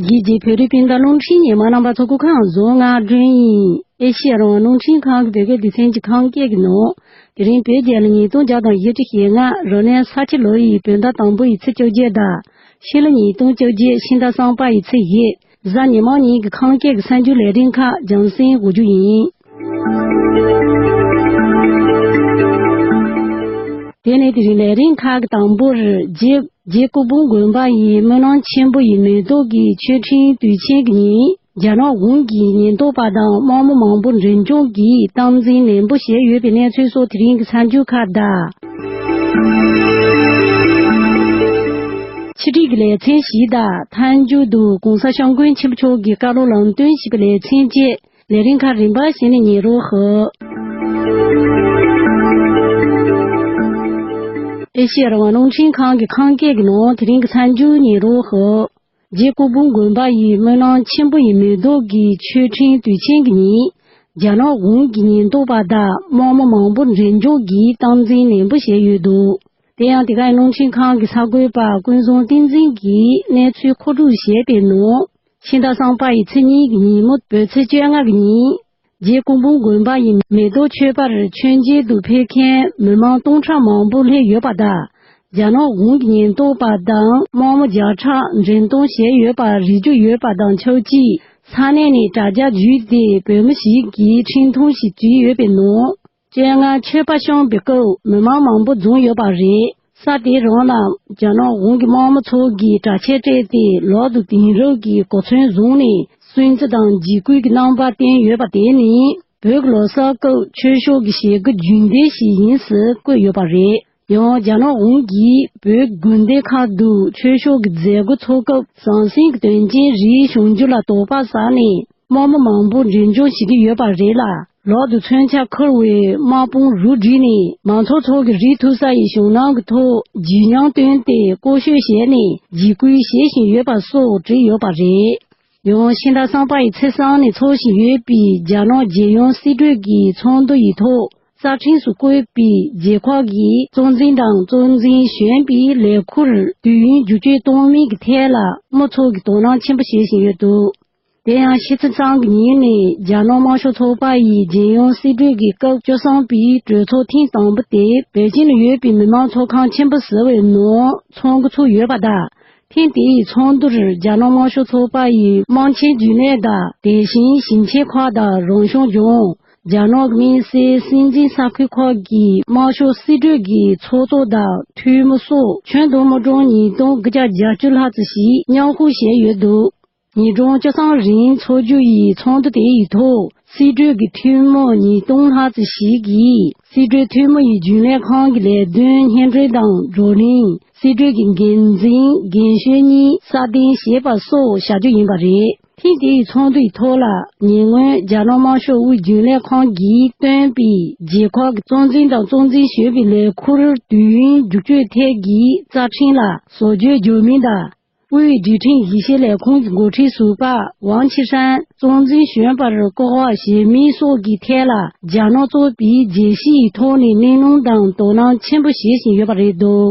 རྒྱལ་སྤྱིའི་བོད་རིགས་སྤུན་ཟླ་རླུང་འཕྲིན་ཉི་མ་རྣམ་པ་ཚོ་སྐུ་ཁང་རྫོང་ངར་སྒྲོན་དབྱིན་ཨེ་ཤི་ཡ་རང་དབང་རླུང་འཕྲིན་ཁང་གི་བོད་སྐད་སྡེ་ཚན་གྱི་ཁང་བརྒྱད་ཀྱི་ནང། དེ་རིང་བོད་རྒྱལ་ལོ་ཉིས་སྟོང་བརྒྱ་དང་བཞི་ཁྲི་ཞེ་ལྔ་རོ་ནས་ས་ཁྱི་ལོ་ཡི་བོད་ཟླ་དང་པོ་ཡི་ཚེས་བཅོ་བརྒྱད་ཟླ་ཕྱི་ལོ་ཉིས་སྟོང་བཅོ་བརྒྱད་ཕྱི་ཟླ་སངས་པ་ཡི་ཚེས་བཞི་གཟའ་ཉི་མ་གཉིས་ཀྱི་ཁང་བརྒྱད་ཀྱི་གསར་འགྱུར་ལས་འབྲེལ་ཁག་སྦྱངས་ཟིན་དགོས་རྒྱུ་ཡིན། དེ་ནས་དེ་རིང་ལས་རིམ་ཁག་དང་པོར་རྗེ་སྐུ་ཕུང་དགོན་པ་ཡི་སྨོན་ལམ་ཆེན་པོ་ཡི་མེ་ཏོག་གི་མཆོད་ཕྲེང་དུས་ཆེན་གྱི་ཉིན་རྒྱ་ནག་གུང་གི་ཉེན་རྟོག་པ་དང་དམག་མི་མང་པོ་འཛིན་སྐྱོང་གིས་སྟངས་འཛིན་ནན་པོ་བྱས་ཡོད་པའི་གནས་ཚུལ་སོགས་དེ་རིང་གི་ཚ་འགྱུར་ཁ་བརྡ། ཕྱི་དྲིལ་གྱི་ལེ་ཚན་བཞི་དང་ཐཱན་འཇུག་ཏུ་གོང་ས་ཤངས་མགོན་ཆེན་པོ་མཆོག་གི་བཀའ་སློབ་ལམ་སྟོན་ཞེས་པའི་ལེ་ཚན་བཅས། ལས་རིམ་ཁག་རིམ་པ་བཞིན་གཉེར་རོགས་ཞུ། ཨེ་ཤེ་ཡ་རང་བ་རླུང་འཕྲིན་ཁང་གི་ཁང་བརྒྱད་ཀྱི་ནང་དེ་རིང་གི་ཚར་འཇུག་གཉེར་རོགས་ཞུ། རྗེ་སྐུ་འབུམ་དགོན་པ་ཡི་སྨོན་ལམ་ཆེན་པོ་ཡི་མེ་ཏོག་གི་མཆོད་ཕྲེང་དུས་ཆེན་གྱི་ཉིན། རྒྱ་ནག་གཞུང་གི་ཉེན་རྟོག་པ་དག་དམག་མི་མང་པོ་འཛིན་སྐྱོང་གིས་སྟངས་འཛིན་ནན་པོ་བྱས་ཡོད་འདུག་དེ་ཡང་དེ་ག་ཡི་རླུང་འཕྲིན་ཁང་གི་གསར་འགོད་པ་ཀུན་བཟང་བསྟན་འཛིན་གྱིས་གནས་ཚུལ་མཁོ་སྒྲུབ་བྱས་པའི་ནང། ཕྱི་ཟླ་སངས་པ་ཡི་ཚེས་གཉིས་ཀྱི་ཉིན་མོ་བོད་ཚེས་བཅོ་ལྔ་གྱི་ཉིན། རྗེ་ཀོང་པོ་དགོན་པ་ཡི་མེ་ཏོག་མཆོད་པར་མཆོད་མཇལ་དུ་ཕེབས་མཁན་མི་མང་སྟོང་ཕྲག་མང་པོ་སླེབས་ཡོད་པ་དང། རྒྱ་ནག་གཞུང་གི་ཉེན་རྟོག་པ་དང་དམག་མི་བརྒྱ་ཕྲག་འགྲེམས་གཏོང་བྱས་ཡོད་པ་རིག་རྒྱུ་ཡོད་པ་དང་ཆབས་གཅིག་ས་གནས་ནས་དྲ་རྒྱ་བརྒྱུད་དེ་བོད་མི་ཞིག་གིས་འཕྲིན་ཐུང་ཞིག་བྲིས་ཡོད་པའི་ནང། སྤྱན་སྔར་མཆོད་པ་ཤོམ་པའི་སྐབས་མི་མང་མང་པོ་འཛོམས་ཡོད་པ་རེད། ས་དེའི་རང་ལ་རྒྱ་ནག་གཞུང་གི་དམངས་མི་ཚོགས་ཀྱིས་དྲག་ཆས་སྤྲས་ཏེ་ལག་ཏུ་དེང་རབས་ཀྱི་གོ་མཚོན་བཟུང་ནས་སུན་གཙི་དང་འཇིགས་སྐུལ་གྱི་རྣམ་པ་བསྟན་ཡོད་པ་དེ་ནི་བོད་ཀྱི་ལོ་གསར་སྐབས་ཆོས་ཕྱོགས་ཀྱི་བྱེད་སྒོ་རྒྱུན་ལྡན་ཞིག་ཡིན་ཟེར་བཀོད་ཡོད་པ་རེད། ཡང་རྒྱ་ནག་གཞུང་གིས་བོད་དགོན་སྡེ་ཁག་ཏུ་ཆོས་ཕྱོགས་ཀྱི་མཛད་སྒོ་འཚོགས་སྐབས་ཟང་ཟིང་གི་དོན་རྐྱེན་རིགས་བྱུང་རྒྱུ་ལ་དོགས་པ་ཟ་ནས་དམག་མི་མང་པོ་འབྲེལ་འཇོག་བྱེད་ཀྱི་ཡོད་པ་རེད་ལ་ལོག་ཏུ་མཚོན་ཆ་འཁུར་བའི་དམག་དཔུང་རུ་བསྒྲིགས་ནས་མང་ཚོགས་ཚོགས་ཀྱི་རིགས་ཐུབ་ས་ཡི་ཞུང་ནང་གི་ཐོག་བརྗིད་ཉམས་བཏོན་ཏེ་ཀོ་ཤོད་བྱས་ནས་འཇིགས་སྐུལ་བྱེད་བཞིན་ཡོད་པ་སོགས་བྲིས་ཡོད་པ་རེད། ཡང་ཕྱི་ཟླ་སངས་པ་ཡི་ཚེས་གསང་ནས་འཚོགས་བཞིན་ཡོད་པའི་རྒྱ་ནག་རྒྱལ་ཡོངས་སྲིད་གྲོས་ཀྱི་ཚོགས་འདུ་ཡི་ཐོག་རྩ་ཁྲིམས་སུ་བཀོད་པའི་རྗེས་ཁག་གི་གཙོ་འཛིན་དང་གཙོ་འཛིན་གཞོན་པའི་ལས་འཁུར་དུས་ཡུན་བསྒྱུར་བཅོས་གཏོང་མིན་གྱི་ཐད་ལ་དམུ་ཚོགས་ཀྱིས་དོ་སྣང་ཆེན་པོ་བྱེད་བཞིན་ཡོད་འདུག་དེ་ཡང་ཕྱི་ཚེས་གཙང་གི་ཉིན་ནས་རྒྱ་ནག་དམར་ཤོག་ཚོགས་པ་ཡི་རྒྱལ་ཡོངས་སྲིད་གྲོས་ཀྱི་སྐབས་བཅོ་བསྲང་པའི་གྲོས་ཚོགས་ཐེངས་དང་པོ་དེ་པེ་ཅིང་ནས་ཡོད་པའི་མི་དམངས་ཚོགས་ཁང་ཆེན་པོ་ཟེར་བའི་ནང་ཚོགས་འགོ་ཚུགས་ཡོད་པ་དང་ཐེངས་དེའི་ཚོགས་འདུར་རྒྱ་ནག་དམར་ཤོག་ཚོགས་པ་ཡི་དམངས་ཆེན་རྒྱུན་ལས་དང་དེ་བཞིན་ཞིང་ཆེན་ཁག་དང་རང་སྐྱོང་ལྗོངས། རྒྱ་ནག་དམིགས་བསལ་སྲིད་འཛིན་ས་ཁུལ་ཁག་གི་དམར་ཤོག་སྲིད་གྲོས་ཀྱི་ཚོགས་གཙོ་དང་འཐུས་མི་སོགས་ཁྱོན་བསྡོམས་དམག་གྲངས་ཉིས་སྟོང་བརྒྱ་རྒྱ་བཅུ་ལྷག་ཙམ་ཞིག་མཉམ་ཞུགས་བྱས་ཡོད་འདུག་ཉིས་སྟོང་བཅུ་གསུམ་རིང་འཚོགས་རྒྱུ་ཡི་ཚོགས་འདུ་དེའི་ཐོག་སྲིད་གྲོས་ཀྱི་འཐུས་མི་ཉིས་སྟོང་ལྷག་ཙམ་ཞིག་གིས་སྲིད་གྲོས་འཐུས་མི་ཡི་རྒྱུན་ལས་ཁང་གི་ལས་དོན་སྙན་སྒྲོན་དང་བགྲོ་གླེང་སྲིད་གྲོས་ཀྱི་འགན་འཛིན་རྒན་གཞོན་གཉིས་སྲ་བརྟན་བྱེད་པ་སོགས་བྱ་རྒྱུ་ཡིན་པ་རེད། ཐེངས་དེའི་ཚོགས་འདུའི་ཐོག་ལ་ཉེ་སྔོན་རྒྱ་ནག་དམར་ཤོག་དབུས་རྒྱུན་ལས་ཁང་གིས་བཏོན་པའི་རྗེས་ཁག་གི་གཙོ་འཛིན་དང་གཙོ་འཛིན་བྱེད་པའི་ལས་འཁུར་དུས་ཡུན་བསྒྱུར་བཅོས་ཐད་ཀྱི་རྩ་ཁྲིམས་ལ་བཟོ་བཅོས་འཇོག་མིན་དང། དབུས་རྒྱུན་ཁྲིམས་ཞིབ་བཤེར་ལས་ཁུངས་ཀྱི་འགོ་ཁྲིད་ཟུར་པ་ཝང་ཆི་ཧྲན་གཙོ་འཛིན་གཞོན་པར་བསྐོ་བ་བྱེད་མིན་སོགས་ཀྱི་ཐད་ལ་རྒྱ་ནག་ཚོགས་པས་རྒྱལ་སྤྱིའི་ཐོག་ནས་གླེང་སློང་དང་དོ་སྣང་ཆེན་པོ་བྱེད་བཞིན་ཡོད་པ་རེད་འདུག།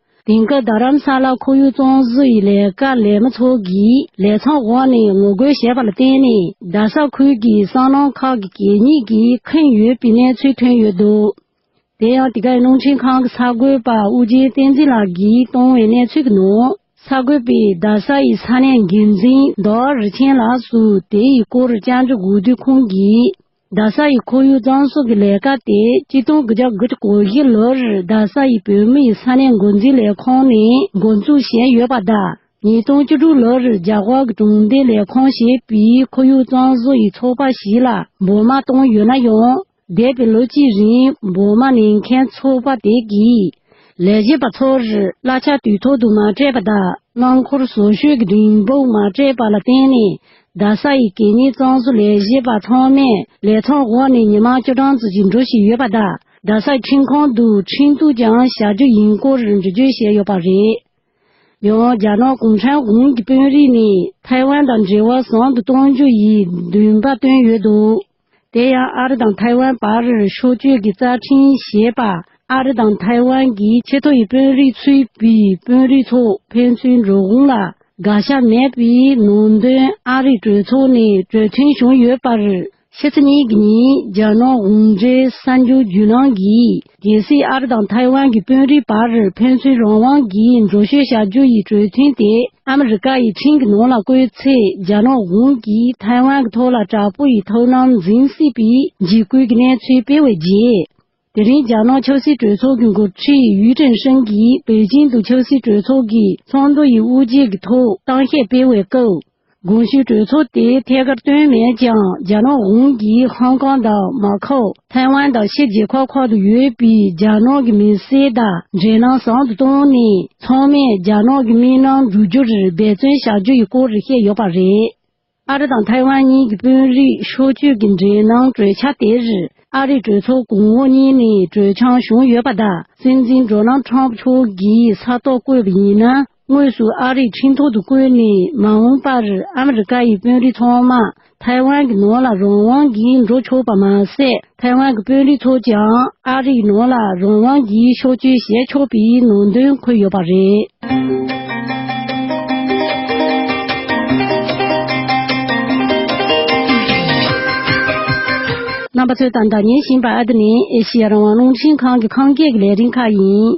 དེང་སྐབས་རྡ་རམ་ས་ལ་ཁོར་ཡུག་གཙང་བཟོ་ཡི་ལས་ཀ་ལས་མི་ཚོགས་ཀྱིས་ལས་ཚང་འོག་ནས་ངོ་རྒོལ་བྱས་པ་ལ་བརྟེན་ནས་རྡ་ས་ཁུལ་གྱི་སྲང་ལམ་ཁག་གི་གད་སྙིགས་ཀྱིས་ཁེངས་ཡོད་པའི་གནས་ཚུལ་ཐོན་ཡོད་འདུག་དེ་ཡང་དེ་གའི་རླུང་འཕྲིན་ཁང་གི་ས་བགོས་པ་དབུ་རྒྱན་བསྟན་འཛིན་ལགས་ཀྱིས་བཏང་བའི་གནས་ཚུལ་གྱི་ནང་ས་བགོས་པས་རྡ་ས་ཡི་ས་གནས་འགན་འཛིན་རྡོར་རི་ཆེན་ལགས་སུ་དེ་ཡི་སྐོར་བཅར་འདྲི་དགོས་དུས་ཁོང་གིས། རྡ་ས་ཡི་ཁོར་ཡུག་གཙང་བཟོ་གི་ལས་ཀ་དེ་སྤྱི་སྟོང་གི་ལྗང་སྒུལ་གོ་བཞི་ལོར་རྡ་ས་ཡི་བོད་མི་ཡི་ས་གནས་འགོ་འཛིན་ལས་ཁང་ནས་འགོ་འཛུགས་བྱས་ཡོད་པ་དང་ཉིས་སྟོང་བཅུ་དྲུག་ལོར་རྒྱ་གར་གྱི་གྲོང་སྡེ་ལས་ཁང་ཞེས་པའི་ཁོར་ཡུག་གཙང་བཟོ་ཡི་ཚོགས་པ་ཞིག་ལ་འབོར་མ་བཏང་ཡོད་ན་ཡང། འདས་པའི་ལོ་གཅིག་རིང་འབོར་མ་ལེན་མཁན་ཚོགས་པ་དེ་གིས་ལས་བྱེད་པ་ཚོར་གླ་ཆ་དུས་ཐོག་ཏུ་མ་སྤྲད་པ་དང་རླངས་འཁོར་བཟོ་བཅོས་ཀྱི་རིན་འབུར་མ་སྤྲད་པ་ལ་བརྟེན་ནས་རྡ་ས་ཡི་གད་སྙིགས་གཙང་བཟོ་ལས་གཞས་པ་ཚང་མས་ལས་ཚོགས་འོག་ནས་ཉི་མ་བཅུ་གྲངས་ཙི་ཅིག་འགྲོ་བཞིན་ཡོད་པ་དང་རྡ་སའི་ཁྲིམས་ཁང་དུ་ཁྲིམས་གཏུགས་ཀྱང་བྱ་རྒྱུ་ཡིན་སྐོར་འགྲེལ་བརྗོད་བྱས་ཡོད་པ་རེད། ཡང་རྒྱ་ནག་གུང་ཁྲན་དགོན་གྱི་དཔོན་རིགས་ནས་ཐའེ་ཝན་དང་འབྲེལ་བ་བཟང་དུ་གཏོང་རྒྱུ་ཡི་འདུན་པ་བཏོན་ཡོད་འདུག། དེ་ཡང་ཨ་རི་དང་ཐའེ་ཝན་བར་ཕྱོགས་བསྐྱོད་ཀྱི་རྩ་ཁྲིམས་ཞེས་པ་ཨ་རི་དང་ཐའེ་ཝན་གྱི་ཆེས་མཐོ་ཡི་དཔོན་རིགས་ཚུད་པའི་དཔོན་རིགས་ཚོགས་ཕན་ཚུན་འགྲོ་འོང་ལ་དགག་བྱ་མེད་པའི་ནང་དོན་ཨ་རིའི་གྲོས་ཚོགས་ནས་གྲོས་མཐུན་བྱུང་ཡོད་པར། ཕྱི་ཚེས་གཉིས་ཉིན་རྒྱ་ནག་གུང་ཁྲན་གསར་འགྱུར་བརྒྱུད་ནང་གི་རྒྱལ་སྲིད་ཨར་དང་ཐའེ་ཝན་གྱི་དཔོན་རིགས་བར་ཕན་ཚུན་རང་དབང་གིས་འགྲོ་བཤོས་བྱ་རྒྱུ་ཡི་གྲོས་མཐུན་དེ་ཨ་མི་རི་ཀ་ཡི་འཕྲིན་གྱི་ནང་ལ་བཀོད་ཚེ་རྒྱ་ནག་གཞུང་གིས་ཐའེ་ཝན་གྱི་ཐོག་ལ་དྲག་པོ་ཡི་ཐོག་ནང་འཛིན་སྲིད་པའི་འཇིགས་སྐུལ་གྱི་གནས་ཚུལ་སྤེལ་བའི་རྗེས། དེ་རིང་རྒྱ་ནག་ཆབ་སྲིད་གྲོས་ཚོགས་ཀྱི་འགོ་ཁྲིད་ཡུས་ཀྲིན་ཧྲིན་གྱིས་པེ་ཅིང་དུ་ཆབ་སྲིད་གྲོས་ཚོགས་ཀྱི་ཚོགས་འདུ་ཡི་དབུ་འབྱེད་ཀྱི་ཐོག་གཏམ་བཤད་སྤེལ་བའི་སྐབས། དགོངས་ཞུ་གྲོས་ཚོགས་དེ་ཐད་ཀར་བཏོན་མེད་ཀྱང་རྒྱ་ནག་གཞུང་གིས་ཧོང་ཀོང་དང་མ་ཁའོ། ཐའེ་ཝན་དང་ཕྱི་རྒྱལ་ཁག་ཁག་ཏུ་ཡོད་པའི་རྒྱ་ནག་གི་མི་སེར་དག་འབྲེལ་གནང་བཟང་དུ་བཏང་ནས་ཚང་མས་རྒྱ་ནག་གི་མི་སྣ་འཛུགས་རྒྱུར་འབད་བརྩོན་བྱ་རྒྱུ་ཡི་སྐོར་བཤད་ཡོད་པ་རེད། ཨ་རི་དང་ཐའེ་ཝན་གཉིས་ཀྱི་དཔོན་རིགས་ཕྱོགས་བསྐྱོད་ཀྱི་འབྲེལ་གནང་གྲོས་འཆར་དེར་ཨ་རིའི་གྲོས་ཚོགས་གོང་འོག་གཉིས་ནས་གྲོས་འཆམ་བྱུང་ཡོད་པ་དང་སྲིད་འཛིན Donald Trump མཆོག་གིས་ས་ཐོག་བཀོད་པ་ཡིན་ན། དངོས་སུ་ཨ་རིའི་ཁྲིམས་ཐོག་ཏུ་བཀོད་ནས་མ་འོངས་པར་ཨ་མི་རི་ཀ་ཡི་དཔོན་རིགས་ཚང་མ་ཐའེ་ཝན་གྱི་ནང་ལ་རང་དབང་གིས་འགྲོ་ཆོག་པ་མ་ཟད་ཐའེ་ཝན་གྱི་དཔོན་རིགས་ཚོས་ཀྱང་ཨ་རིའི་ནང་ལ་རང་དབང་གིས་ཕྱོགས་བསྐྱོད་བྱས་ཆོག་པའི་ནང་དོན་འཁོད་ཡོད་པ་རེད། རྣམ་པ་ཚོས་ད་ལྟ་ཉན་བཞིན་པ་འདི་ནི་ཨེ་ཤི་ཡ་རང་དབང་རླུང་འཕྲིན་ཁང་གི་ཁང་བརྒྱད་ཀྱི་ལས་རིམ་ཁག་ཡིན།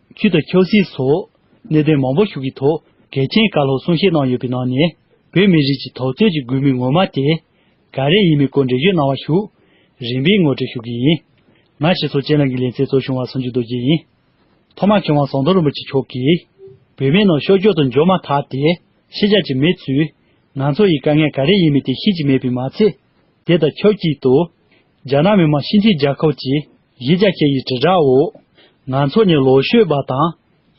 ཁྱོད་དང་ཁྱོད་སྲིད་སོགས་གནད་དོན་མང་པོ་ཞུགས་ཀྱི་ཐོག་གལ་ཆེན་བཀའ་སློབ་གསུང་བཤད་གནང་ཡོད་པའི་ནང་ནས་བོད་མི་རིགས་ཀྱི་ཐོབ་རྩོད་ཀྱི་འགུལ་མི་ངོ་མ་དེ་ག་རེ་ཡིན་མིན་སྐོར་འགྲེལ་བརྗོད་གནང་བ་ཞུ། རིམ་པས་ངོ་སྤྲོད་ཞུ་གི་ཡིན། ང་ཞེས་ཚོགས་ཆེན་ནང་གི་ལས་འཚལ་གཙོ་བྱུང་བ་སུན་ཅུ་རྡོ་རྗེ་ཡིན། ཐོག་མར་མཁས་དབང་ཟངས་མདོག་རིན་པོ་ཆེ་མཆོག་གིས། བོད་མི་རྣམས་ཤོག་སྒྱོགས་དུ་འཇོག་མ་ཐག་དེ་ཤེས་རྒྱ་ཅིག་མེད་ཚུལ། ང་ཚོ་ཡི་དཀའ་ངལ་ག་རེ་ཡིན་མིན་དེ་ཤེས་ཀྱི་མེད་པའི་མ་ཚད། དེ་དང་ཆབས་ཅིག་ཏུ། རྒྱ་ནག་མི་དམངས་སྤྱི་མཐུན་རྒྱལ་ཁབ་ཀྱི་གཞིས་ཆགས་ཁྱེད་ཡི་དྲིལ་བསྒྲགས་འོག་ང་ཚོ་ནི་ལོ་ཤོད་པ་དང་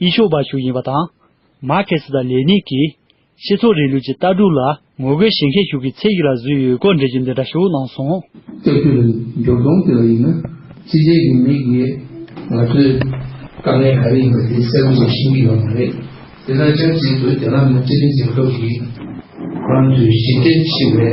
ཡིད་ཤོད་པ་ཞིག་ཡིན་པ་དང། མར་ཁེ་སི་དང་ལེ་ནིན་གྱི་སྤྱི་ཚོགས་རིང་ལུགས་ཀྱི་ལྟ་གྲུབ་ལ་ངོ་རྒོལ་བྱེད་མཁན་ཞིག་གི་ཚད་ཡིག་ལ་བཟོས་ཡོད་སྐོར་འགྲེལ་བརྗོད་འདི་འདྲ་ཞིག་གནང་སོང། སྐྱབས་བཅོལ་བའི་འབྱོར་སྟོང་དེ་ལ་ཡིན་ན་ཅི་བྱེད་ཀྱི་མེད་ཀྱི་རེད། ང་ཚོའི་དཀའ་ངལ་ག་རེ་ཡིན་པ་དེ་གསལ་པོ་ཞིག་ཤེས་ཀྱི་ཡོད་མ་རེད། དེ་དང་ཆབས་ཅིག་ཏུ་རྒྱ་ནག་མི་དམངས་སྤྱི་མཐུན་རྒྱལ་ཁབ་ཀྱི་རང་གི་གཞི་རྟེན་ཆེ་བའི།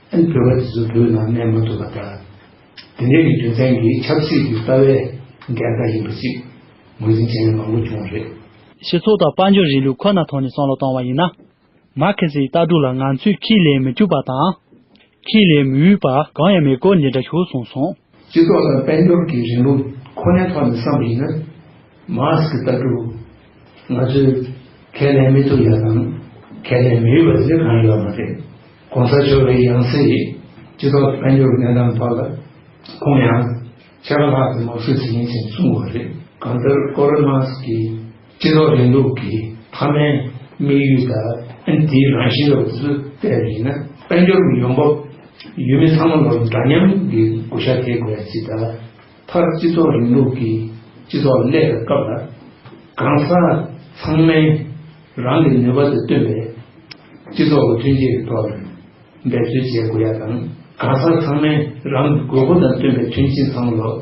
ཨན་བོད་པ་དེ་ཚོ་བོད་ནང་གནས་མ་ཐུབ་པ་དང། དེ་འདྲའི་རྒྱུ་མཚན་གྱིས་ཆབ་སྲིད་ཀྱི་ལྟ་བའི་འགལ་ཟླ་ཡིན་པ་ཞིག་ངོས་འཛིན་བྱེད་མཁན་མང་པོ་བྱུང་བ་རེད། སྤྱི་ཚོགས་དང་དཔལ་འབྱོར་རིང་ལུགས་ཁོ་ན་ཐོག་ནས་བསམ་བློ་བཏང་བ་ཡིན་ན། མར་ཁེ་སིའི་ལྟ་གྲུབ་ལ་ང་ཚོས་ཁས་ལེན་མི་ཐུབ་པ་དང། ཁས་ལེན་མི་འོས་པ་གང་ཡང་མེད་སྐོར་འདི་འདྲ་ཤོད་གསུངས་སོང། སྤྱི་ཚོགས་ལ་དཔལ་འབྱོར་གྱི་རིང་ལུགས་ཁོ་ནའི་ཐོག་ནས་བསམ་པ་ཡིན་ན། Musk ལྟ་བུ། ང་ཚོས་ཁས་ལེན་མི་ཐུབ་ཡ་དང་ཁས་ལེན་མི་འོས་པ་ཟེར་གང་ཡོད་མ་རེད། གོང་ས་མཆོག་གི་ཡང་སྲིད་ཡིན། སྤྱི་ཚོགས་དཔལ་འབྱོར་གྱི་གནས་སྟངས་ཐོག་ལ་ཁོང་ཡང། ཆད་པ་ལྷག་ཙམ་མ་ཞུ་ཟིན་ཡིན་ཟེར་གསུངས་པ་རེད། གང་ལྟར་ཀོ་རོན་མཱ་སྐི། སྤྱི་ཚོགས་རིང་ལུགས་ཀྱི་མཐའ་མའི་དམིགས་ཡུལ་དང་དེའི་རང་བཞིན་ལ་འུ་ཚོས་བལྟས་པ་ཡིན་ན། དཔལ་འབྱོར་གྱི་ཡོང་འབབ་ཡུལ་མི་ཚང་མ་ལ་འདྲ་མཉམ་གྱི་གོ་ཞྭ་འདེགས་དགོས་ཚེ་ད་ལྟར་སྤྱི་ཚོགས་རིང་ལུགས་ཀྱི་སྤྱི་ཚོགས་གླས་པའི་སྐབས་ལ་གང་ཟག་ཚང་མས་རང་གི་ནུས་པ་དང་བསྟུན་པའི་སྤྱི་ཚོགས་ཀྱི་ཐོན་སྐྱེད་ཐོག་ལ་འབད་རྩོལ་བྱེད་དགོས་ཡ་དང་གང་ཟག་ཚང་མས་རང་གི་དགོས་མཁོ་དང་བསྟུན་པའི་ཐོན་སྐྱེད་ཚང་མ་ལ།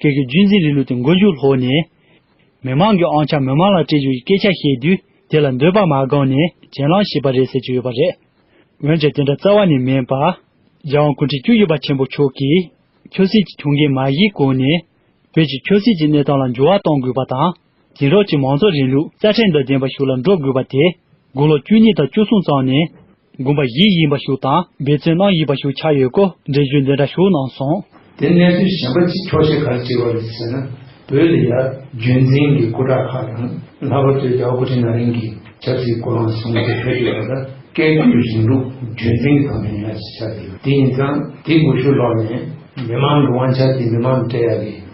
ཁྱེད་ཀྱི་རྒྱུད་འཛིན་རིང་ལུགས་དེ་མགོ་མཇུག་ལྷོག་ནས། མི་མང་གི་ཨང་ཆ་མི་མང་ལ་སྤྲད་རྒྱུ་ཡི་སྐད་ཆ་བཤད་དུས་དེ་ལ་འདོད་པ་མ་བསྐང་ནས་གྱེན་ལངས་བྱས་པ་རེད་ཟེར་གྱི་ཡོད་པ་རེད། འོན་ཀྱང་དེ་འདྲ་རྩ་བ་ནས་མིན་པ། རྒྱལ་དབང་ཀུན་ཁྲི་བཅུ་ཡི་པ་ཆེན་པོ་མཆོག་གིས། ཆོས་སྲིད་ཀྱི་གྱོང་གུན་མ་བཞེས་གོང་ནས། བོད་ཀྱི་ཆོས་སྲིད་ཀྱི་གནས་སྟངས་ལ་འགྱུར་བ་གཏོང་དགོས་པ་དང། དེང་རབས་ཀྱི་མང་གཙོ་རིང་ལུགས་རྩ་ཁྲིམས་དང་ལྡན་པ་ཞིག་ལ་འགྲོ་དགོས་པ་དེ། དགུང་ལོ་བཅུ་གཉིས་དང་བཅུ་གསུམ་ཙམ་ནས། དགོན་པ་བཞི་ཡིན་པ་ཞིག་དང་འབད་བརྩོན་གནང་ཡི་པ་ཞིག་ཆགས་ཡོད་སྐོར་འགྲེལ་བརྗོད་འདི་འདྲ་ཞུ་གནང་སོང། དེ་གནས་ཚུལ་གཞན་པ་གཅིག་འཁྱོག་བཤད་གར་བྱེད་པ་རེད་ཟེར་ན་བོད་ལ་ཡར་རྒྱུན་འཛིན་གྱི་སྐུ་དྲག་ཁག་ཡང་ལྷག་པར་དུ་རྒྱ་བོ་སྐུ་ཕྲེང་ན་རིང་གིས་ཆབ་སྲིད་སྐུ་ལངས་བཟུང་སྟེ་བོད་ཀྱི་བར་ལ་བཀས་བཀོད་རིང་ལུགས་རྒྱུན་འཛིན་གྱི་ཐོག་ནས་ཡར་ཞུ་བྱ་དགོས་ལ་དེ་ཡིན་ཙང་དེ་དགོས་ཤུགས་ལོག་ནས་མི་མང་གི་དབང་ཆ་དེ་མི་མང་གིས་སྤྲད་ཡག་གི།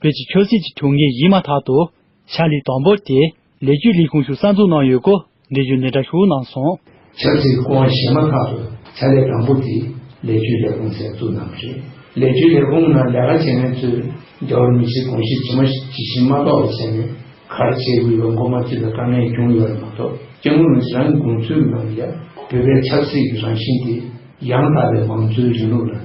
བོད་ཀྱི་ཆོས་སྲིད་ཀྱི་དུས་ངེས་ཡིན་མ་ཐག་ཏུ། ཕྱག་ལས་དང་པོ་དེ་ལས་རྒྱུད་ལས་ཁུངས་ཞུགས་གསར་འཛུགས་གནང་ཡོད་སྐོར་འབྲེལ་ཡོད་ནས་སྒྲ་ཞུ་གནང་སོང། ཆབ་སྲིད་སྐོར་བཤད་མ་ཐག་ཏུ་ཕྱག་ལས་དང་པོ་དེ་ལས་རྒྱུད་ལས་ཁུངས་གསར་འཛུགས་གནང་གི་རེད། ལས་རྒྱུད་ལས་ཁུངས་ནང་ལས་ཀ་བྱེད་མཁན་ཚོས་རྒྱ་བོད་མི་སེར་དགོངས་གཞི་ཇི་མ་ཇི་བཞིན་མ་རྟོགས་པ་བྱས་ནས་གར་བྱེད་དགོས་པའི་མགོ་མ་བཙུད་པའི་དཀའ་ངལ་བྱུང་ཡོད་པ་མ་གཏོགས་སྐྱེ་དངོས་རང་གིས་རང་གི་དགོངས་ཚུལ་ངང་ལས་བོད་པའི་ཆབ་སྲིད་ཀྱི་རང་བཞིན་དེ་ཡང་དག་པའི་མང་གཙོའི་རིང་ལུགས་ལ།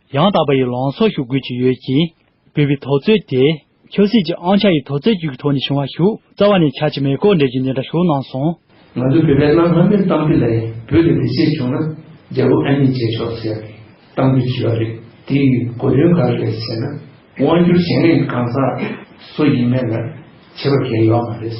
ཡང་དག་པ་ཡི་ལང་སོགས་ཞུ་དགོས་ཀྱི་ཡོད་ཀྱིས། བོད་པའི་ཐོག་རྩོད་དེ། ཆོས་སྲིད་ཀྱི་ཨང་ཆ་ཡི་ཐོག་རྩོད་རྒྱུགས་ཀྱི་ཐོག་ནས་བྱུང་བ་ཞུགས་རྩ་བ་ནས་ཆགས་ཀྱི་མེད་སྐོར་འགྲེལ་རྒྱུ་འདི་འདྲ་ཞུ་གནང་སོང། ང་ཚོའི་བོད་པའི་གནའ་སྔ་མོའི་གཏམ་དཔེ་ལས་བོད་དུ་འདི་ཕྱིར་བྱུང་ན་རྒྱལ་པོ་ཨ་མྱེས་བྱས་ཆོག་ཟེར་ཏེ་གཏམ་རྒྱུད་བྲིས་པ་རེད་དེའི་གོ་དོན་ག་རེ་རེད་ཟེར་ན། དབང་སྒྱུར་བྱེད་མཁན་གང་ཟག་སུ་ཡིན་མེད་ལ་བྱེད་པ་འགལ་ཡོད་མ་རེད།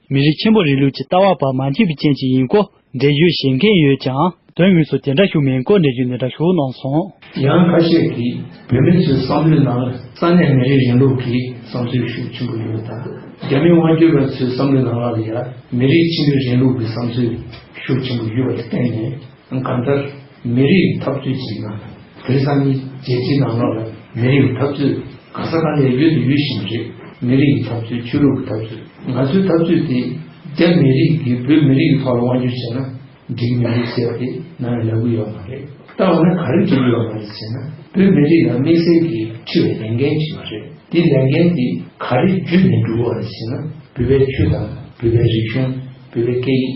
མི་རིགས་ཆེན་པོ་རིང་ལུགས་ཀྱི་ལྟ་བ་བར་མ་འཁྱིལ་བའི་རྐྱེན་གྱིས་ཡིན་སྐོར་འགྲེལ་བརྗོད་བྱེད་མཁན་ཡོད་ཀྱང་དོན་དངོས་སུ་དེ་འདྲ་བྱུང་མེད་སྐོར་འགྲེལ་བརྗོད་འདི་འདྲ་ཞུ་གནང་སོང། ཡང་ཁ་ཤས་ཀྱིས་བོད་མི་ཚོའི་བསམ་བློའི་ནང་ལ་ས་གནས་མི་རིགས་རིང་ལུགས་ཀྱི་བསམ་ཚུལ་ཤུགས་ཆེན་པོ་ཡོད་དང་རྒྱ་མི་དབང་བསྒྱུར་བ་ཚོའི་བསམ་བློའི་ནང་ལ་ཡང་མི་རིགས་ཆེན་པོའི་རིང་ལུགས་ཀྱི་བསམ་ཚུལ་ཤུགས་ཆེན་པོ་ཡོད་པ་དེ་བསྟན་ནས། གང་ལྟར་མི་རིགས་འཐབ་རྩོད་ཅིག་ནང་དེང་སང་གཉིས་རྗེས་གཅིག་ནང་ལོགས་ལ་མི་རིགས་འཐབ་རྩོད་གང་ས་གང་ནས་ཡོད་དུ་ཡོད་བཞིན་རེད་མི་རིགས་འཐབ་རྩོད་ཆོས་ལུགས་ཀྱི་འཐབ་རྩོད་ང་ཚོའི་འཐབ་རྩོད་དེ་རྒྱ་མི་རིགས་ཀྱིས་བོད་མི་རིགས་ཀྱི་ཐོག་ལ་དབང་བསྒྱུར་བྱས་ན་འགྲིག་མི་འགྲིག་ཟེར་བ་དེ་ང་ལ་ལབ་གི་ཡོད་མ་རེད་ད་འོ་ན་ག་རེ་འགྲིག་གི་ཡོད་མ་རེད་ཟེར་ན་བོད་མི་རིགས་ལ་དམིགས་བསལ་གྱིས་འཁྲི་བའི་ལས་འགན་ཅིག་མ་རེད་དེ་ལས་འགན་དེ་ག་རེ་བརྒྱུད་ནས་འགྲུབ་བ་རེད་ཟེར་ན་བོད་པའི་ཆོས་དང་བོད་པའི་རིག་གཞུང་བོད་པའི་སྐད་ཡིག།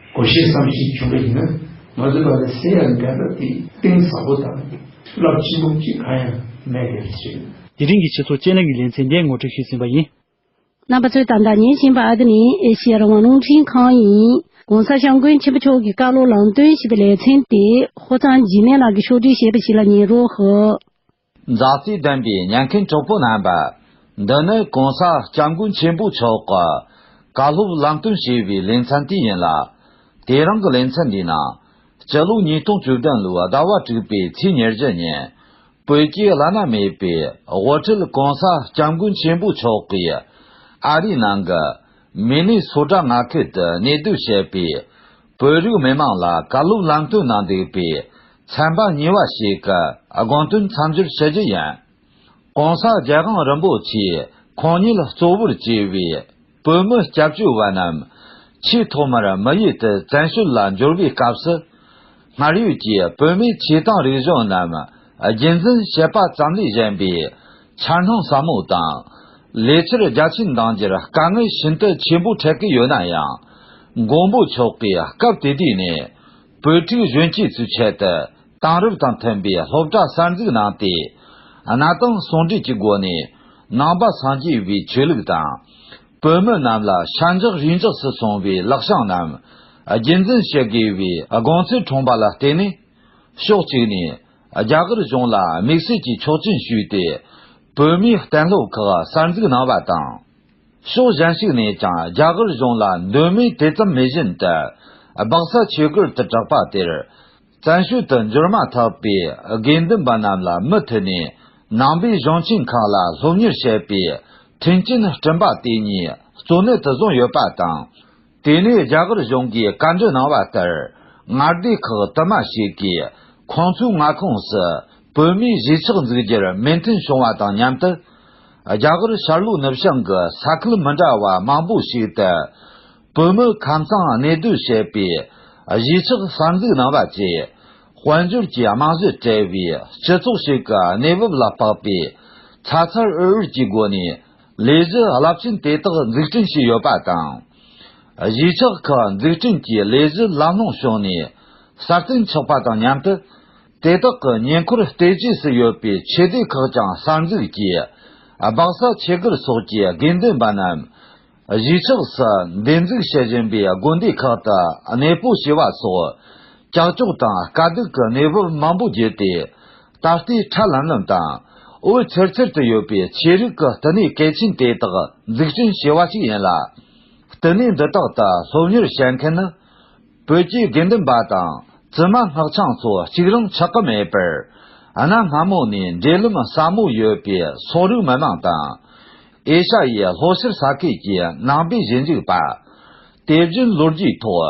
གོ་ཤེས་སམ་ཞེས་བྱུང་བ་ཡིན་ན་ང་ཚོས་ད་ལྟའི་སའི་ཡང་འགལ་ཟླ་དེ་གཏིང་ཟབ་པོ་དང་རླབས་ཆེན་པོ་གཅིག་གང་ཡང་མེད་པའི་རེད་ཟེར། དེ་རིང་གི་ཕྱི་ཚུལ་དཔྱད་གླེང་གི་ལེ་ཚན་འདི་ངོ་སྤྲོད་ཞུས་ཟིན་པ་ཡིན། རྣམ་པ་ཚོས་ད་ལྟ་ཉན་བཞིན་པ་འདི་ནི་ཨེ་ཤི་ཡའི་རང་དབང་རླུང་འཕྲིན་ཁང་ཡིན། གོང་ས་ཤང་མགོན་ཆེན་པོ་མཆོག་གིས་བཀའ་སློབ་ལམ་སྟོན་ཞེས་པའི་ལེ་ཚན་དེ་ཧོར་གཙང་འཇིགས་མེད་ལགས་ཀྱིས་ཕྱོགས་བསྒྲིགས་བྱས་པ་ཞིག་ལ་ཉན་རོགས། མཛའ་བརྩེ་ལྡན་པའི་ཉན་མཁན་གྲོགས་པོ་རྣམ་པ། འདི་ནི་གོང་ས་སྐྱབས་མགོན་ཆེན་པོ་མཆོག་གིས་བཀའ་སློབ་བསླབ་སྟོན་བྱས་པའི་ལེ་ཚན་དེ་ཡིན་ལ། དེ་རིང་གི་ལེ་ཚན་འདིའི་ནང། སྤྱི་ལོ་ཉིས་སྟོང་བཅུ་བདུན་ལོའི་ཟླ་བ་དྲུག་པའི་ཚེས་ཉེར་བཞི་ཉིན། བོད་རྒྱའི་བླ་ན་མེད་པའི་དབུ་ཁྲིད་གོང་ས་སྐྱབས་མགོན་ཆེན་པོ་མཆོག་གིས། ཨ་རིའི་ནང་གི་མི་ནི་སོ་བྲག་ང་ཁུལ་དུ་གནས་སྡོད་བྱེད་པའི་བོད་རིགས་མི་མང་ལ་བཀའ་སློབ་བསླབ་སྟོན་གནང་འདུག་པའི་ཚན་པ་གཉིས་བ་ཞིག་གི་དགོངས་དོན་མཚམས་སྦྱོར་ཞུ་རྒྱུ་ཡིན། གོང་ས་རྒྱལ་དབང་རིན་པོ་ཆེས་ཁོང་ཉིད་ལ་གཙོ་བོར་བཅས་པའི་བོད་མི་སྐྱབས་བཅོལ་བ་རྣམས་ཆེས་ཐོག་མར་མི་ཡུལ་དུ་བཙན་བྱོལ་ལ་འབྱོར་བའི་སྐབས་སུ། སྔར་ཡོད་ཀྱི་བོད་མིའི་བྱེད་སྟངས་རིག་གཞུང་རྣམས་རྒྱུན་འཛིན་བྱེད་པ་ཙམ་ལས་གཞན་པའི་འཆར་སྣང་ཟབ་མོ་དང། ལས་འཆར་རྒྱ་ཆེན་འདང་རྒྱུར་དཀའ་ངལ་ཤིན་ཏུ་ཆེན་པོ་འཕྲད་ཀྱི་ཡོད་ན་ཡང། མགོན་པོ་མཆོག་གིས་སྐབས་དེ་དུས་ནས། བོད་ཕྲུག་གཞོན་སྐྱེས་ཚོའི་ཆེད་དུ་དེང་རབས་དང་མཐུན་པའི་སློབ་གྲྭ་གསར་འཛུགས་གནང་སྟེ། གནའ་དང་ཟུང་འབྲེལ་གྱི་སྒོ་ནས་ནང་པ་སངས་རྒྱས་པའི་ཆོས་ལུགས་དང། བོད་མི་རྣམས་ལ་ཤ་འཇགས་རུས་འཇགས་སུ་སོང་བའི་ལག་ཤང་རྣམས་རྒྱུད་འཛིན་བྱེད་དགོས་པའི་དགོངས་ཚུལ་འཁྲུངས་པ་ལ་བརྟེན་ནས། ཕྱོགས་གཅིག་ནས་རྒྱ་གར་གཞུང་ལ་དམིགས་བསལ་གྱི་ཆོག་མཆན་ཞུས་ཏེ། བོད་མིའི་གཏན་སློབ་ཁག་གསར་འཛུགས་གནང་བ་དང། ཕྱོགས་གཞན་ཞིག་ནས་ཀྱང་རྒྱ་གར་གཞུང་ལ་འདོད་མོས་དེ་ཙམ་མེད་བཞིན་དུ། སྦག་ས་ཆོས་སྒར་དུ་གྲགས་པ་དེར་བཙན་ཤོས་དུ་འབྱོར་མ་ཐག་པའི་དགེ་འདུན་པ་རྣམས་ལ་མུ་མཐུད་ནས་ནང་པའི་གཞུང་ཆེན་ཁག་ལ་སློབ་གཉེར་བྱེད་པའི་མཐུན་རྐྱེན་སྐྲུན་པ་དེ་ཉིད་གཙོ་གནད་དུ་བཟུང་ཡོད་པ་དང། དེ་ནས་རྒྱ་གར་གཞུང་གིས་བཀའ་འདྲི་གནང་བ་ལྟར་མངའ་སྡེ་ཁག་དུ་མ་ཞིག་གིས་ཁོང་ཚོའི་མངའ་ཁོངས་སུ་བོད་མིའི་གཞིས་ཆགས་འཛུགས་རྒྱུར་མོས་མཐུན་བྱུང་བ་དང་མཉམ་དུ། རྒྱ་གར་ཤར་ལྷོ་ནུབ་བྱང་གི་ས་ཁུལ་མི་འདྲ་བ་མང་པོ་ཞིག་ཏུ་བོད་མི་ཁམས་གཙང་གནས་སྡོད་བྱས་པའི་གཞིས་ཆགས་གསར་འཛུགས་གནང་བ་བཅས་དཔལ་འབྱོར་གྱི་རྨང་གཞི་བྲལ་བའི་སྤྱི་ཚོགས་ཤིག་གི་གནས་བབ་ལ་དཔག་པའི་ཚ་ཚ་འུར་འུར་གྱི་སྒོ་ནས། ལས་གཞི་རླབས་ཆེན་དེ་དག་འཛུགས་སྐྲུན་བྱས་ཡོད་པ་དང། གཞིས་ཆགས་ཁག་འཛུགས་སྐྲུན་གྱི་ལས་གཞི་ལམ་ལྷོངས་བྱུང་ནས་སྲ་བརྟན་ཆགས་པ་དང་མཉམ་དུ། དེ་དག་གི་ཉེ་འཁོར་བལྟོས་བཅས་སུ་ཡོད་པའི་ཆེད་སྡེ་ཁག་ཀྱང་གསར་འཛུགས་ཀྱིས་སྦག་ས་ཆེད་བཀུར་སོགས་ཀྱི་དགེ་འདུན་པ་རྣམས་གཞིས་ཆགས་སུ་འདེབས་འཛུགས་བྱེད་བཞིན་པའི་དགོན་སྡེ་ཁག་ཏུ་གནས་སྤོ་བྱས་པ་སོགས་ཀྱག་ཀྱོག་དང་དཀའ་སྡུག་གི་གནས་བབ་མང་པོ་བརྒྱུད་དེ་ད་ལྟའི་ཁྲ་ལམ་ལམ་དང། འོད་འཚེར་འཚེར་དུ་ཡོད་པའི་ཆོས་རིག་གི་བསྟི་གནས་གལ་ཆེན་དེ་དག་འཛུགས་སྐྲུན་བྱས་བ་ཞིག་ཡིན་ལ། བསྟི་གནས་འདི་དག་ཏུ་སློབ་གཉེར་བྱེད་མཁན་ནི། བོད་ཀྱི་དགེ་འདུན་པ་དང་བཙུན་མ་སྔགས་འཆང་ཚོ་གཅིག་རང་ཆགས་ཀྱི་མེད་པར། གནའ་སྔ་མོ་ནས་འབྲེལ་ལམ་ཟབ་མོ་ཡོད་པའི་སོག་རིགས་མི་མང་དང། ཨེ་ཤ་ཡའི་ལྷོ་ཕྱིར་ས་ཁུལ་གྱི་ནང་པའི་གཞིས་འཇུག་པ། དེ་བཞིན་ལོ་རྒྱུས་ཐོག།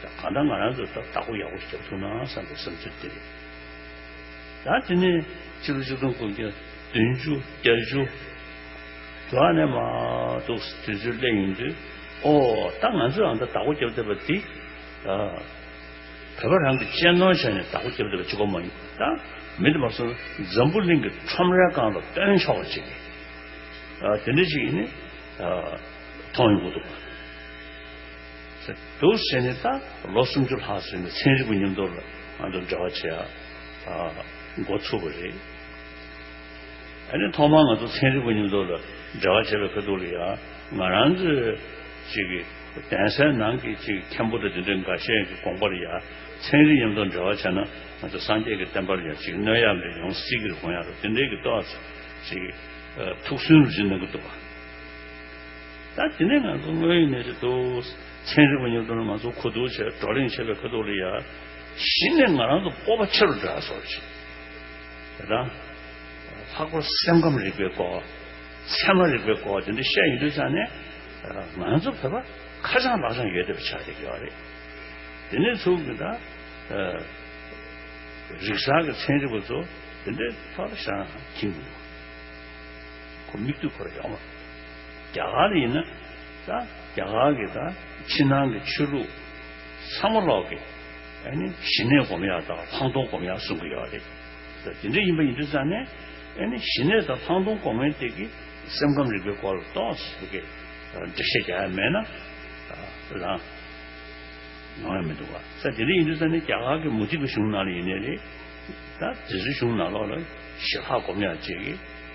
གང་ལྟར་ང་རང་གིས་ད་བདག་པོ་ཡག་པོ་རྒྱབ་ཐུབ་ན་བསམ་པའི་བསམ་ཚུལ་དེ་རེད། ད་དེ་ནས་ཕྱི་ལོ་བཅུ་སྟོང་དགུ་བརྒྱ་བདུན་ཅུ་བརྒྱད་ཅུ་དྲུག་ཨ་ནས་མ་གཏོགས་དུས་ཚོད་སླེབས་ཡིན་དུས་ཨོ་ད་ང་ཚོས་ཨང་ད་བདག་པོ་རྒྱབ་བསྡད་པ་འདི་ད་བོད་པ་རང་གི་གཅེས་ནོར་བྱས་ནས་བདག་པོ་རྒྱབ་བསྡད་པ་ཅི་གོ་མ་ཡིན་ད་མི་འདི་མ་སོང་ན་འཛམ་བུ་གླིང་གི་ཁྲོམ་རའི་སྒང་ལ་སྟོན་ཆོག་པ་ཅིག་རེད། དེ་འདྲ་ཅིག་ནི་མཐོང་ཡོང་གི་འདུག། འདུག་བྱས་ནས་ད་ལོ་སུམ་ཅུ་ལྷག་ཟིན་ནས་ཚན་རིག་པ་ཉམས་རྟོགས་ལ་ང་ཚོ་འབྲེལ་བ་བྱེད་འགོ་ཚུགས་པ་རེད། ཨ་ནི་ཐོག་མར་ང་ཚོ་ཚན་རིག་པ་ཉམས་རྟོགས་ལ་འབྲེལ་བ་བྱེད་པའི་ཁ་ཐུག་ལ་ཡང་ང་རང་ཚོའི་གཅིག་གི་གདན་སའི་ནང་གི་གཅིག་མཁན་པོ་དང་དེ་འདྲའི་འགའ་ཤས་ཀྱི་དགོངས་པར་ཡང་ཚན་རིག་ཉམས་རྟོགས་འབྲེལ་བ་བྱས་ན་ང་ཚོ་སངས་རྒྱས་ཀྱི་བསྟན་པར་ཡང་གཅིག་གནོད་ཡག་འདྲ་ཡོང་སྲིད་ཀྱི་རེད་དགོངས་ཡག་རེད་དེ་འདྲའི་གི་ལྟོས་ཚིག་ཐུགས་སུན་རུ་བཞིན་གནང་གི་འདུག་བ། ད་དེ་ནས་ང་ཚོ་དངོས་ཡོད་གནས་ཚུལ་ཐོག་ཚན་རིག་པ་ཉོབ་སྒྲུང་ལ་ང་ཚོ་གོ་བསྡུར་བྱས་བགྲོ་གླེང་བྱས་པའི་ཁ་ཐོག་ལ་ཡ་གཞི་ནས་ང་རང་ཚོ་སྤོབས་པ་ཆེ་རུ་འགྲོ་ཡག་སོགས་རེད། དེ་དང། ལྷག་པར་སེམས་ཁམས་རིག་པའི་སྐོར། ཚད་མ་རིག་པའི་སྐོར་དེ་འདྲ་བཤད་ཡོད་དུས་ཙམ་ནས་ང་ཚོ་བོད་པ་ཁ་བྱང་ལག་བྱང་ཡོད་ཐབས་ཆགས་ཀྱི་ཡོད་རེད། དེ་ནས་ཚུགས་ཀྱིན་ད། རིག་གསར་གྱི་ཚན་རིག་པ་ཚོ་དེ་འདྲའི་ཐོག་ལ་བཤད་ན་ཁྱིམ་མི་འདུག་གོ་མིག་ལྟོས་འཁོར་ཡོང། རྒྱ་གར་ཡིན་ན། རྒྱ་གར་གྱི་ཕྱི་ནང་གི་ཆོས་ལུགས་ཚང་མ་ལོག་གི། ཞི་གནས་སྒོམ་ཡག་དང་ལྷག་མཐོང་སྒོམ་ཡག་གསུང་གི་ཡོད་རེད། དེ་འདྲ་ཡིན་པ་ཡིན་དུས་ཙང་ནས་ཞི་གནས་དང་ལྷག་མཐོང་སྒོམ་མཁན་དེ་གི་སེམས་ཁམས་རིག་པའི་སྐོར་ལ་ཏོགས་སུ་གི་འགྲེལ་བཤད་རྒྱག་ཡ་མེད་ན་ལང། ཡོང་ཡ་མི་འདུག་བ། དེ་འདྲ་ཡིན་དུས་ཙང་ནས་རྒྱ་གར་གྱི་མུ་སྟེགས་གྱི་གཞུང་ནང་ལ་ཡིན་ནས་རེད། དེ་ཚོའི་གཞུང་ནང་ལོག་ལ་ཞི་ལྷག་སྒོམ་ཡག་བྱེད་གི།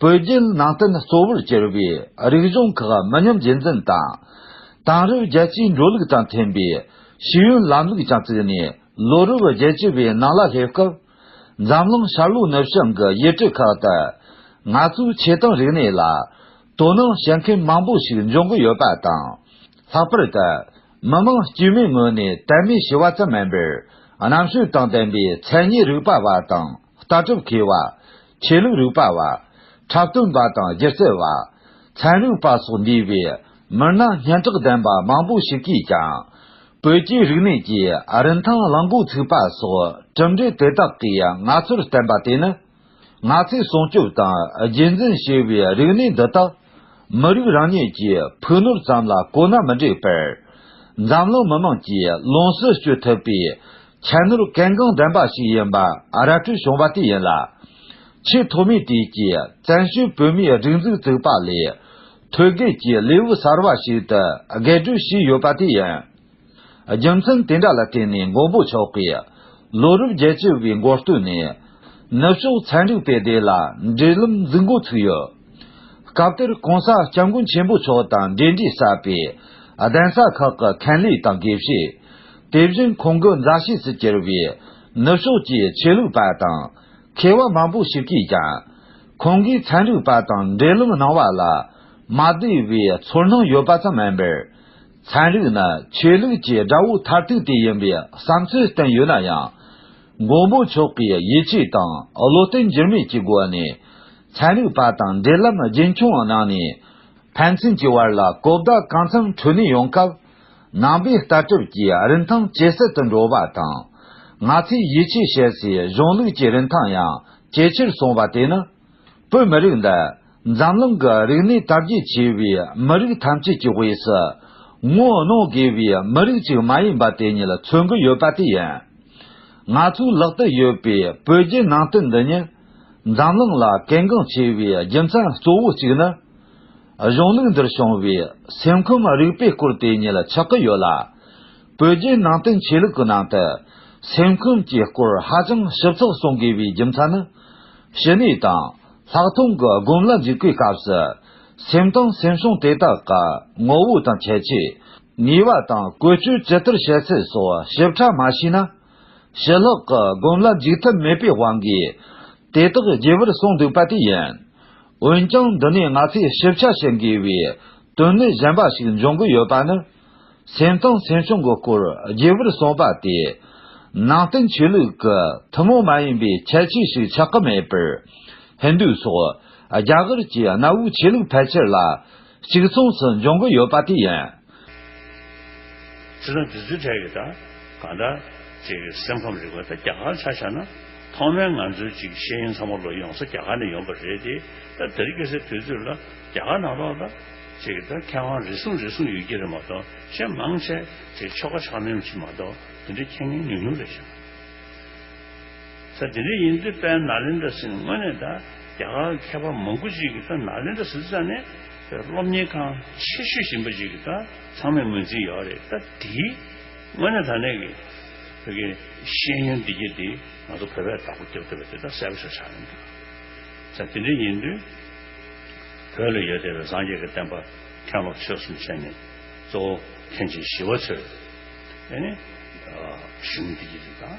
བོད་བརྒྱུད་ནང་བསྟན་གཙོ་བོར་གྱུར་པའི་རིག་གཞུང་ཁག་མི་ཉམས་རྒྱུན་འཛིན་དང། དེང་རབས་རྒྱལ་སྤྱིའི་འགྲོ་ལུགས་དང་མཐུན་པའི་ཤེས་ཡོན་ལམ་ལུགས་ཀྱང་བཙུགས་ནས་ལོ་རབས་བརྒྱད་བཅུ་པའི་ནང་ལ་སླེབས་སྐབས། འཛམ་གླིང་ཤར་ལྷོ་ནུབ་བྱང་གི་ཡུལ་གྲུ་ཁག་ཏུ་ང་ཚོའི་ཆེ་མཐོང་རིག་གནས་ལ་དོ་སྣང་བྱེད་མཁན་མང་པོ་ཞིག་འབྱུང་གི་ཡོད་པ་དང། ལྷག་པར་དུ་མི་དམངས་དཀྱུས་མའི་ངོས་ནས་དད་མོས་བྱེད་བ་ཙམ་མིན་པར་རྣམ་དཔྱོད་དང་ལྡན་པའི་མཚན་ཉིད་རིག་པ་བ་དང། ལྟ་གྲུབ་མཁས་བ། ཆོས་ལུགས་རིག་པ་བ། འཁྲབ་སྟོན་པ་དང་སྒྱུ་རྩལ་བ། ཚན་རིག་པ་སོགས་འདུས་པའི་མི་སྣ་སྙན་གྲགས་ལྡན་པ་མང་པོ་ཞིག་གིས་ཀྱང། བོད་རྒྱའི་རིག་གནས་ཀྱི་རིན་ཐང་བླ་འགུག་ཚུགས་པ་སོགས་གྲུབ་འབྲས་དེ་དག་གིས་ང་ཚོར་བསྟན་པ་དེ་ནི། ང་ཚོས་སྲུང་སྐྱོབ་དང་རྒྱུད་འཛིན་ཞུ་བའི་རིག་གནས་འདི་དག་མི་རིགས་རང་ཉིད་ཀྱི་ཕུགས་ནོར་ཙམ་ལ་གོ་ན་མི་འགྲིག་པར། འཛམ་གླིང་མི་དམངས་ཀྱིས་ལོངས་སུ་སྤྱོད་ཐུབ་པའི་ཁྱད་ནོར་གལ་འགངས་ལྡན་པ་ཞིག་ཡིན་པར་ར་སྤྲོད་བྱུང་བ་དེ་ཡིན་ལ། ཆེས་ཐོག་མའི་དུས་ཀྱི་བཙན་བྱོལ་བོད་མིའི་སྒྲིག་འཛུགས་བཙུགས་པ་ལས། ཐོད་བརྒལ་གྱི་ལེའུ་གསར་བ་ཞིག་ཏུ་བརྒལ་སྒྲོལ་བྱས་ཡོད་པ་དེ་ཡིན། རྒྱུ་མཚན་དེ་འདྲ་ལ་བརྟེན་ནས་མགོན་པོ་མཆོག་གིས་ལོ་རབས་བརྒྱད་ཅུ་བའི་མགོ་སྟོད་ནས་ནུབ་ཕྱོགས་ཚན་རིག་པའི་སྡེ་ལ་འབྲེལ་ལམ་འཛུགས་འགོ་ཚུགས་ཡོད། སྐབས་དེར་གོང་ས་སྐྱབས་མགོན་ཆེན་པོ་མཆོག་དང་འབྲེལ་འདྲིས་ཟབ་པའི་གདན་ས་ཁག་གི་མཁན་ལས་དང་དགེ་བཤེས། དེ་བཞིན་ཁོང་གི་མཛའ་བཤེས་སུ་གྱུར་བའི་ནུབ་ཕྱོགས་ཀྱི་ཆོས་ལུགས་པ་དང་མཁས་དབང་མང་པོ་ཞིག་གིས་ཀྱང་ཁོང་གིས་ཚན་རིག་པ་དང་འབྲེལ་ལམ་གནང་བ་ལ་མ་བདེ་བའི་ཚོར་སྣང་ཡོད་པ་ཙམ་མིན་པར། ཚན་རིག་ནི་ཆོས་ལུགས་ཀྱི་དགྲ་བོའི་མཐར་ཐུག་དེ་ཡིན་པའི་བསམ་ཚུལ་བསྟན་ཡོད་ན་ཡང། མགོན་པོ་མཆོག་གིས་ཡིད་ཆེས་དང་བློ་བརྟན་འགྱུར་མེད་ཀྱི་སྒོ་ནས་ཚན་རིག་པ་དང་འབྲེལ་ལམ་རྒྱུན་འཁྱོངས་གནང་ནས་ཕན་ཚུན་གྱི་བར་ལ་གོ་བརྡ་གང་འཚམ་འཕྲོད་ནུས་ཡོང་སྐབས། ནང་པའི་ལྟ་གྲུབ་ཀྱིས་རིན་ཐང་ཇེ་གསལ་དུ་འགྲོ་བ་དང། ང་ཚོས་ཡིད་ཆེས་བྱེད་སའི་གཞུང་ལུགས་ཀྱི་རིན་ཐང་ཡང་ཇེ་ཆེར་སོང་བ་དེ་ནི། བོད་མི་རིགས་འདི་འཛམ་གླིང་གི་རིག་གནས་དར་རྒྱས་ཆེ་བའི་མི་རིགས་ཐམས་ཅད་ཀྱི་དབུས་སུ་ངོ་གནོང་དགོས་པའི་མི་རིགས་ཅིག་མ་ཡིན་པ་དེ་ཉིད་མཚོན་གྱི་ཡོད་པ་དེ་ཡིན། ང་ཚོའི་ལག་ཏུ་ཡོད་པའི་བོད་བརྒྱུད་ནང་བསྟན་འདི་ཉིད་འཛམ་གླིང་ལ་གལ་འགངས་ཆེ་བའི་རྒྱུ་མཚན་གཙོ་བོ་གཅིག་ནི། གཞུང་ལུགས་འདིར་བྱུང་བའི་སེམས་ཁམས་རིག་པའི་སྐོར་དེ་ཉིད་ཆགས་ཀྱི་ཡོད་ལ། བོད་རྒྱའི་ནང་བསྟན་ཆོས་ལུགས་ཀྱི་ནང་དུ་སེམས་ཁམས་ཀྱི་སྐོར་ཧ་ཅང་ཞིབ་ཚགས་གསུང་དགོས་པའི་རྒྱུ་མཚན་ནི། ཞི་གནས་དང་ལྷག་མཐོང་གི་སྒོམ་ལ་འཇུག་པའི་སྐབས་སུ་སེམས་དང་སེམས་བྱུང་དེ་དག་གི་ངོ་བོ་དང་ཁྱད་ཆོས། ནུས་པ་དང་ཀུན་སྤྱོད་ཇི་ལྟར་བྱེད་ཚུལ་སོགས་ཞིབ་ཕྲ་མ་ཤེས་ན། ཞི་ལྷག་གི་སྒོམ་ལ་འཇུག་ཐབས་མེད་པའི་དབང་གིས་དེ་དག་རྒྱས་པར་གསུངས་འདུག་པ་དེ་ཡིན། འོན་ཀྱང་འདི་ནས་ང་ཚོས་ཞིབ་ཆ་བྱེད་དགོས་པའི་དོན་གནད་གཞན་པ་ཞིག་འབྱུང་གི་ཡོད་པ་ནི། སེམས་དང་སེམས་བྱུང་གི་སྐོར་རྒྱས་པར་གསུངས་པ་དེ་ནང་བསྟན་ཆོས་ལུགས་ཀྱི་ཐུན་མོང་མ་ཡིན་པའི་ཁྱད་ཆོས་ཤིག་ཆགས་ཀྱི་མེད་པར། ཧིན་རྡུ་སོགས་རྒྱ་གར་གྱི་གནའ་བོའི་ཆོས་ལུགས་ཕལ་ཆེར་ལ། གཅིག་མཚུངས་སུ་འབྱུང་གི་ཡོད་པ་དེ་ཡིན། ཚིག་དང་དེ་ཚུལ་འཕྲད་ཀྱི་ད་གང་འདྲ། ཅེས་ཀྱི་སེམས་ཁམས་རིག་པ་ད་རྒྱ་གར་ཆ་བཞག་ན། ཐོག་མའི་ང་ཚོའི་ཅིག་ཤེས་ཡོན་ཚང་མ་ལོ་ཡོངས་ས་རྒྱ་གར་ནས་ཡོང་པ་རེད་དེ། ད་དེར་སྐྱེ་སའི་དུས་ཚོད་ལ་རྒྱ་གར་ནང་ལོག་ད། ཅེས་ཀྱི་ད་མཁས་དབང་རེ་ཟུང་རེ་ཟུང་ཡོད་ཀྱི་རེད་མ་གཏོགས་གཞན་མང་ཆེ་ཆེ་ཆོལ་ཁ་ཆགས་མིན་གྱི་མ་གཏོགས་དེ་འདྲའི་མཁྱེན་ངེས་ཉུང་ཉུང་རེད་ཤག། ས་དེ་རིགས་ཡིན་དུས་དཔལ་ནཱ་ལེནྡྲ་སིནི་དངོས་གནས་ད་རྒྱ་གར་གྱི་མཁས་པ་མང་པོ་ཅིག་གིས་དཔལ་ནཱ་ལེནྡྲ་སི་ཙཱ་ནི་བོད་སློབ་གཉེར་ཁང་ཆེ་ཤོས་ཡིན་པ་ཅིག་གིས་ད་ཚང་མས་ངོས་འཛིན་ཡོད་རེད་ད་དེའི་དངོས་གནས་ད་ནས་ཀྱི་བོད་ཀྱི་ཤེས་ཡོན་བདེ་སྐྱིད་དེ་ང་ཚོ་བོད་པས་བདག་པོ་རྒྱབ་ཐུབ་པ་དེ་ད་གསལ་པོ་ཤོག་ཆགས་ཡོང་དུས། ས་དེ་རིགས་ཡིན་དུས་བོད་ལ་ཡོད་བསྡད་པའི་སངས་རྒྱས་ཀྱི་བསྟན་པ་མཁན་སློབ་ཆོས་གསུམ་ཆེན་ནི་གཙོ་བོ་མཁན་ཆེན་ཞི་བ་འཚོས་ནི་ཤེས་ཡོན་བདེ་སྐྱིད་དེ་ད།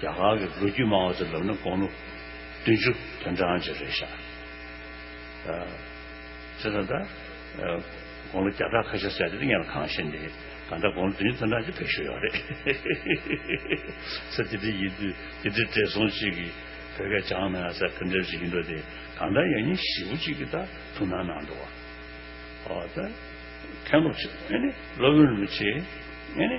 རྒྱ་གར་གྱི་ལོ་རྒྱུས་སྨྲ་བ་ཚོའི་ལབ་ན་དགོངས་ལོ་བདུན་ཅུ་དོན་གྲངས་ཅིག་རེད་ཤག་ཅེས་ད་ལྟ་དགོངས་ལོ་བརྒྱ་ཕྲག་ཁ་ཤས་བསལ་ཏེ་ཡང་ལ་གང་བཞིན་ནི་གང་འདྲ་དགོངས་ལོ་བདུན་ཅུ་དོན་གྲངས་ཅིག་བེད་ཤོར་ཡོད་རེད། ཚེ་འདི་འདྲའི་ཡིན་དུས་འདི་འདྲའི་བགྲེས་སོང་ཅིག་གིས་བོད་སྐད་སྦྱང་ན་ས་ཁུ་འདྲ་ཞིག་ཡིན་འགྲོ་དེ་གང་འདྲ་ཡང་ཉིན་བཞི་བོ་ཅིག་གི་ད་ཐུགས་སྣང་གནང་འགྲོ་བ། ཨོ་ད། མཁན་སློབ་ཆེ་ཨེ་ནི་སློབ་དཔོན་རིན་པོ་ཆེ་ཨེ་ནི།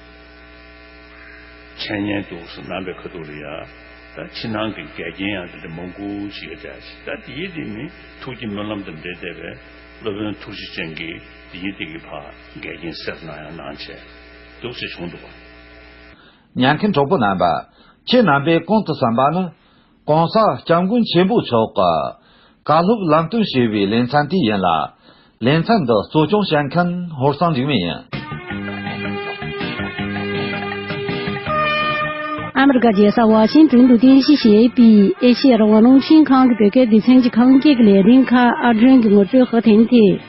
འཆད་ཉན་དུ་སུ་ནང་པའི་ཁ་ཐུག་རེད་ཡ། ད་ཕྱི་ནང་གི་འགལ་རྐྱེན་ཡང་དེ་འདྲ་མང་པོ་ཞིག་གི་འདྲ། ད་འདི་ཡི་དེ་ནི་ཐུགས་ཀྱི་སྨོན་ལམ་དང་འབྲེལ་བསྡད་པས་སློབ་དཔོན་ཐུགས་རྗེ་ཅན་གྱིས་འདི་ཡི་དེ་གི་བར་འགལ་རྐྱེན་སེལ་དུ་གནང་ཡང་གནང་བྱས་འདུག་ཅེས་བྱུང་འདུག་པ། ཉན་མཁན་གྲོགས་པོ་རྣམ་པ། ཁྱེད་རྣམ་པས་གོང་དུ་བསམ་པ་ནི། གོང་ས་སྐྱབས་མགོན་ཆེན་པོ་མཆོག་གི། བཀའ་སློབ་ལམ་སྟོན་བྱེད་པའི་ལས་མཚན་དེ་ཡིན་ལ། ལས་མཚན་འདི་གཙོ་སྐྱོང་བྱེད་མཁན་ཧོར་སངས་འཇིགས་མེད་ཡིན། ཨ་མེ་རི་ཀ་རྒྱལ་ས་ཝཱ་ཤིང་ཏོན་དུ་རྟེན་གཞི་བྱས་པའི་ཨེ་ཤེ་ཡ་རང་དབང་རླུང་འཕྲིན་ཁང་གི་བོད་སྐད་སྡེ་ཚན་གྱི་ཁང་བརྒྱད་ཀྱི་ལས་རིམ་ཁག་ཨར་སྐྲུན་གྱི་ངོ་སྤྲོད་དཔར་ཐེངས་ཐད།